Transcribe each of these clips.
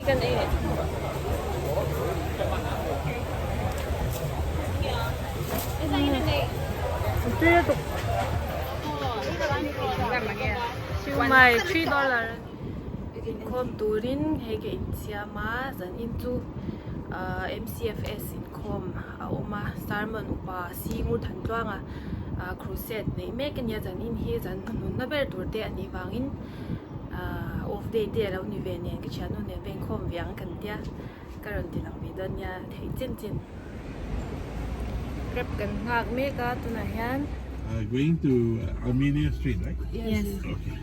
Siumai three dollar a ni. Inkhawm turin hei ka insiam a, zan in chu MCFS inkhawm a awm a, Sermon upa Simu Thantluanga Crusade neih mek a nia, zan in hi zan hmanhunna ber tur te a nih vangin. ahh off day te alo ni ve nen ka thiannu nen veng khawm ve ang kan tia ka rawn ti lang ve dawn nia theih chin chin rep kan nghak mek a tunah hian ahh going to Armenia street right yes okay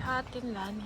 tha tin la ni.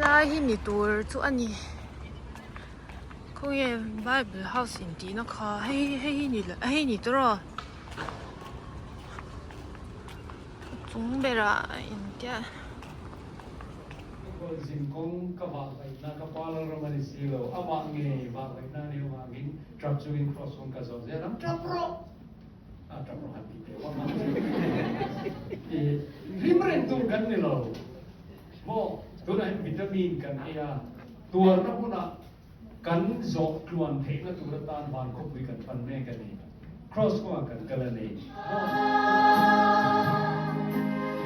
Lai hi ni tur chu a ni. Khawnge Bible House intihna kha hei hei hi ni hei hi ni tur aw. Chung berah a intial. Kawr zin kawng ka vah vaih na ka pa ral ram a ni si lo. Amah nge vah vaih na a ni avangin truck chungin cross kawng ka zawh zel ang tap rawh. a tam rawh han ti teh vang a i hlim reng chu kan ni lo maw tunah hian vitamin kan ei a tuarna hunah kan zawh tluan theihna tur atan van khawpui kan pan mek a ni cross kawngah kan kal a ni maw.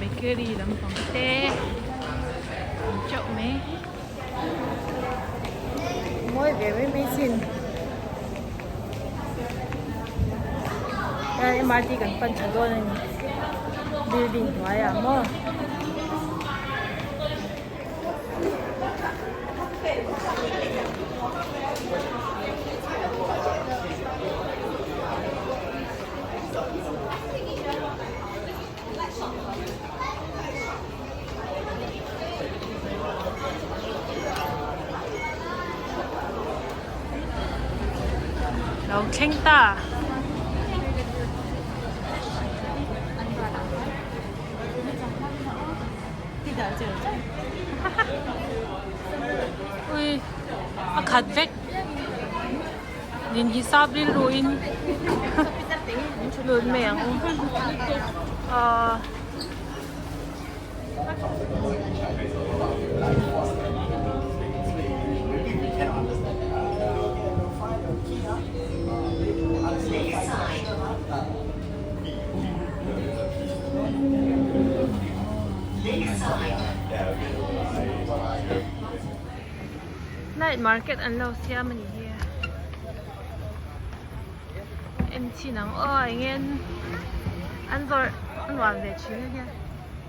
bakery lampang te ang teuh mai mawi ve mai mai sin mrt kan pan tha dawn a ni building hnuaiah maw lo thleng ta. Ui a khat vek din hisap rilru in lut mai ang u ahh. Night market an lo siam a ni hi a en chin ang aw eng ngen an zawrh a nuam ve thin a nia.